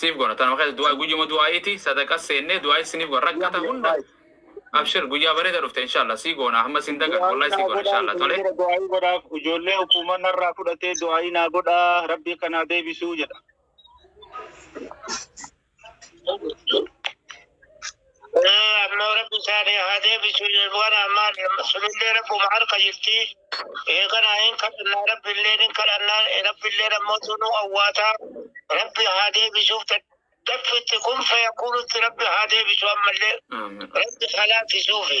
siif gona tanuma keessa du'aa guyyuma du'aa'iiti sadaqas seennee du'aa'is sinif gona rakkata hunda abshir guyyaa bareeda dhufte inshallah sii goona hamma sin dagan Du'aayii wallahi sii naa goona godhaa inshallah isin tole bira du'aayii godhaaf ijoollee hukuuman narraa fudhatee du'aayii naa godhaa rabbii akka naa deebisuu jedha. Ee ammoo rabbi isaanii haa deebisu waan ammaa sunillee rabbuma harka jirti. Ee kana hin kadhannaa rabbillee hin kadhannaa rabbillee ammoo tunuu awwaataa rabbi haa deebisuuf daffitti kun fayakuunutti rabbi haa deebisu ammallee rabbi haa laaffisuufi.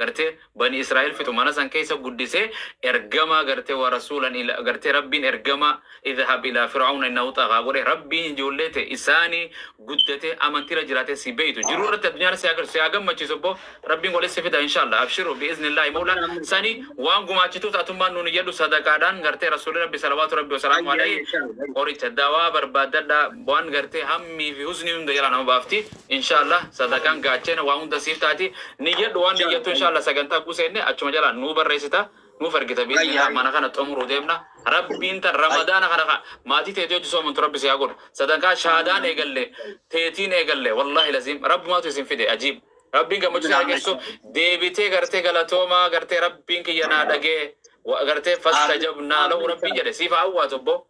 gartee bani israil fixu mana san keessa guddise ergamaa gartee wa rasuulan ila gartee rabbiin ergamaa idhab ilaa fir'auna innahu xaghaa godhe rabbiin ijoollee te isaani guddate amantira jiraate si beeytu jiruu irratti addunyaa irra si haa garsu si haa gammachiisu obbo rabbiin godhe si fida inshallah abshiru bi iznillahi mawla sani waan gumaachituuf atummaan nuun iyyadhu sadaqaadhaan gartee rasuuli rabbi salawaatu rabbi wasalaamu alayhi qoricha dawaa barbaaddadha waan gartee hammii fi husnii hunda jalaa nama baafti Inshaallah sadaqaan gaachena waa hunda siif taati. Niyyadhu waan niyyattu inshaallah sagantaa guu seenne achuma jalaa nuu barreessita. Nuuf ergita biiznillah mana kana xumuruu deemna. Rabbiin tan ramadaana kana ka maatii teetii hojji soomantu rabbi si haa godhu. Sadankaa shaadaan eegalle teetiin eegalle wallahi laziim rabbumaatu isin fide ajiib. Rabbiin gammachuu isin haa geessisu. Deebitee gartee galatoomaa gartee rabbiin kiyya naa dhagee gartee fastajabnaa lahu rabbiin jedhe siif haa awwaatu obboo.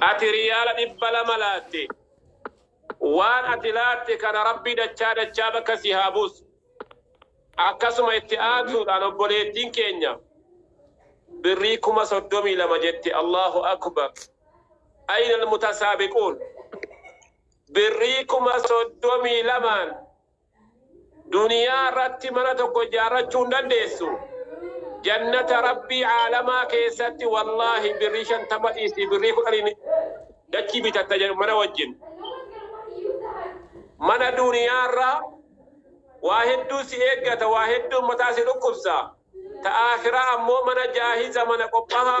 Ati riyaala dhibba lama laatte. Waan ati laatte kana Rabbi dachaa dachaa bakka si haa buusu. Akkasuma itti aansuudhaan obboleettiin keenya birrii kuma soddomii lama jette Allaahu Akbar. Ayna almutasaabiquun. Birrii kuma soddomii lamaan Duniyaa irratti mana tokko ijaarrachuu hin dandeessu. Jannata Rabbii aalamaa keessatti wallaahi birrii shantama dhiisii birrii kudhaniin dachii bitatta jedhu mana wajjin. Mana duniyaa irraa waa hedduu si eeggata, waa hedduun mataa si dhukkubsa. Ta aakhiraa ammoo mana jaahiza mana qophaa'aa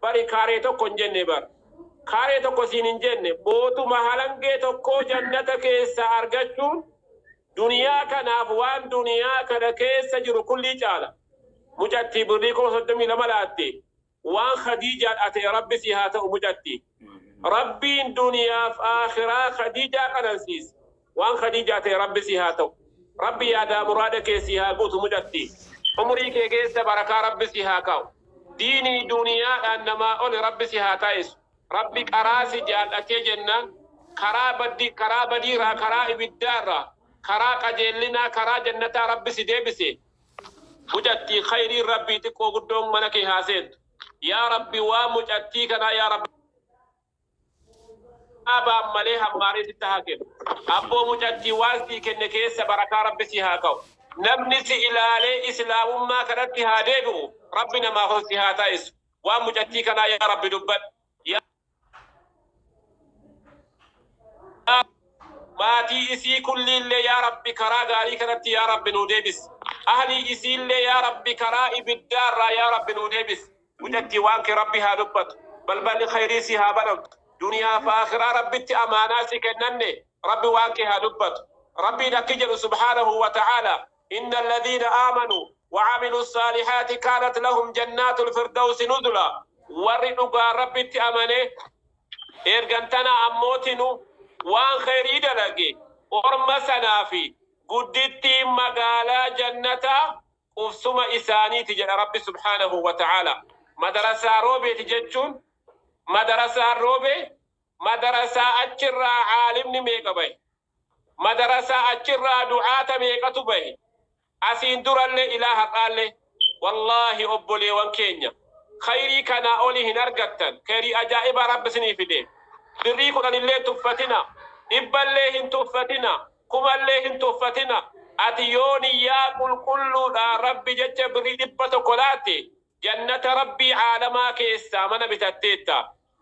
Bari kaaree tokko hin jenne bar. Kaaree tokko siin hin jenne bootuma halangee tokkoo jannata keessaa argachuun duniyaa kanaaf waan duniyaa kana keessa jiru kullii caala. Mucattii birrii kuma soddomii lama laatte waan khadiijaa dhaate rabbi sii haa ta'u mucatti. Rabbiin duniyaaf aakhiraa khadiijaa qanansiise. Waan khadijaa tee rabbi si haa ta'u rabbi yaadaa muraada kee sii haa guutu mucatti umurii kee keessa barakaa rabbi si haa kaa'u diinii duuniyaadhaan namaa oli rabbi si haa taaisu rabbi qaraa si jaal'atee jennaan karaa baddi karaa badiiraa karaa ibiddaarraa karaa qajeellinaa karaa jannataa rabbi si deebise mucattii khayriin rabbii xiqqoo guddoon mana kee haa seentu yaa rabbi waan mucattii kanaa yaa rabbi Dhaabaan malee hammaaree sitti haa kennu. Abboo mucattii waan sii kenne keessa barakaa Rabbi sii haa ka'u. Namni si ilaalee Islaamummaa kanatti haa deebi'u Rabbi namaaf ol si haa taasisu. Waan mucattii kanaa yaa Rabbi dubbadhu. Yaa maatii isii kulliillee yaa Rabbi karaa gaarii kanatti yaa Rabbi nuu deebisi. Ahlii isiillee yaa Rabbi karaa ibiddaarraa yaa Rabbi nuu deebisi. Gudattii waan kee rabbi haa dubbatu balballi kayrii sii haa banamtu duniyaa fi akiraa rabbitti amaanaa si kennanne rabbi waan kee haa dubbatu rabbiin akki jedhu subhaanahu wa ta'aalaa inna alladhiina aamanu wa'amilu ssaalihaati kaanat lahum jannaatul firdawsi nuzulaa warri dhugaan rabbitti amane ergan tana ammootinu waan kayrii dalage orma sanaafi guddittiin magaalaa jannataa qubsuma isaaniiti jedha Rabbi subhaanahu wa ta'aalaa. Madarasaa Roobeeti jechuun madarasaan Roobee madarasaa achirraa aalimni meeqa bahe? Madarasaa achirraa du'aata meeqatu bahe? Asiin durallee ilaa har'aallee wallaahi obboleewan keenya khayrii kanaa oli hin argattan khayrii ajaa'ibaa Rabbi isinii fidee. Birrii kudhanillee hin tuffatinaa, dhibballee hin tuffatinaa. Kumallee hin tuffatina. Ati yoo niyyaa qulqulluudhaan Rabbi jecha birrii 100 laatte, Jannata Rabbii Aalamaa keessaa mana bitatteetta.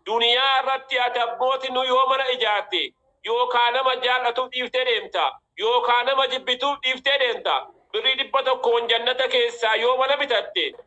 Duniyaa irratti ati abbootinu yoo mana ijaarte, yookaa nama jaal'atuuf dhiiftee deemta, yookaa nama jibbituuf dhiiftee deemta. Birrii 100n Jannata keessaa yoo mana bitatte,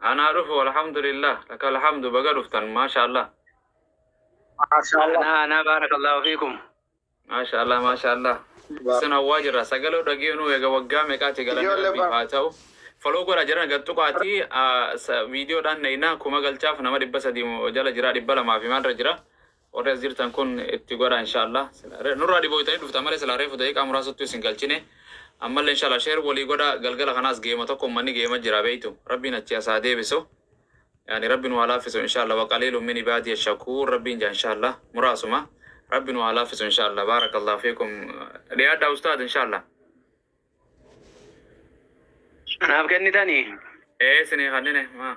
Anaa dhufu alhamdulillah laka alhamdu baga dhuftan maashaallah. Maashaallah. Anaa anaa baarakallahu fiikum. Maashaallah maashaallah. Isin hawwaa jirra sagaloo dhageenuu eega waggaa meeqaati galanni Ijoollee rabbiif bara- haa ta'u. Foloo godha jiran gad tuqaati viidiyoodhaan nayinaa kuma galchaaf nama dhibba sadii jala jira dhibba lamaa fi maalirra jira. Warri as jirtan kun itti godhaa inshallah sila nurraa dhiboytanii dhuftan malee silaa reefu daqiiqaa muraasattuu isin galchine ammallee inshallah share walii godhaa galgala kanaas geema tokko ummanni geema jira beeytu rabbiin achii as haa deebisu yaani rabbi nu haa laaffisu inshallah waqaliilun min ibaadiya shakuur rabbiin jaa inshallah muraasuma rabbi nu haa laaffisu inshallah baarakallahu fiikum dhiyaadhaa ustaad inshallah Naaf kennitanii? ee isinii kannine maa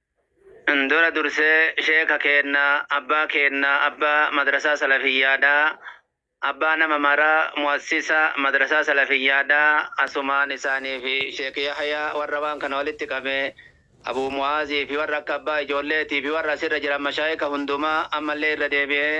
Dura dursee sheeka keenna abbaa keenna abbaa madrasaa salafiyyaadha abbaa nama maraa mu'assisa madrasaa salafiyyaadha asumaan isaanii fi sheek yahyaa warra waan kana walitti qabe abuu mu'aazii fi warra akka abbaa ijoolleetii fi warra asirra jiran mashaayika hundumaa ammallee irra deebi'ee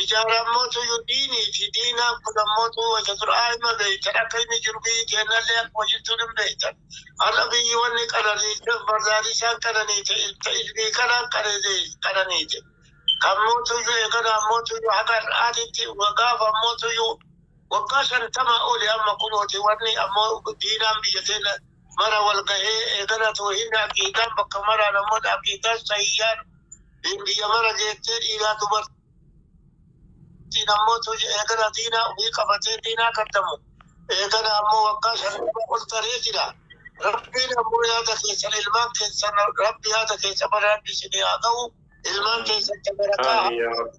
Ijaarammotu iyyuu diinii fi diinaan kun ammotu wayita duraa hima beeytan akka inni jiru biyyi teennallee akkuma jirtuun hin beeytan. Har'a biyyi wanni qananiiteef bardaadisaan qananiite ilta ilbii kanaan qananiite. Kammootu iyyuu eegana ammotu iyyuu haga har'aatitti wagaaf ammotu iyyuu waggaa shantama oli amma kunooti wanni ammoo diinaan biyya teenna mara wal gahee eegana toohinni aqiidaan bakka maraan ammoo aqiidaan sahiyyaan Diin biyya mara geettee dhiiraa dubartiin ammoo tuji eegana diinaa ofii qabatee diinaa kaddamu eegana ammoo waggaa shantama ol taree jira. Rabbiin ammoo yaada keessan ilmaan keessan rabbi yaada keessa bara rabbi isinii haa ga'u ilmaan keessan tabarakaa Aamiin yaa Rabbi.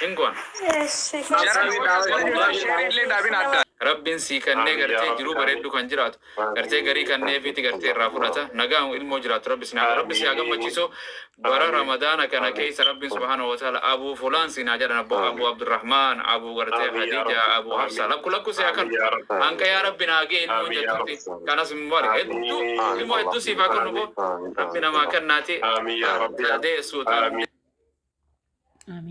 Hin goona. Rabbin sii kannee gartee jiruu bareeddu kan jiraatu gartee garii kanneefiiti gartee irraa fudhata nagaan ilmoo jiraattu rabbi isin haa rabbi si haa gammachiisu bara ramadaana kana keessa rabbin subhaanahu wa ta'aala abuu fulaan siin haa jedhan abboo abuu abdurrahmaan abuu gartee hadiija abuu hafsaa lakku lakku si haa kan hanqa yaa rabbi naa gee ilmoo jettutti kanas mubarak hedduu ilmoo hedduu siif haa kan nuboo rabbi namaa kannaati deessuuta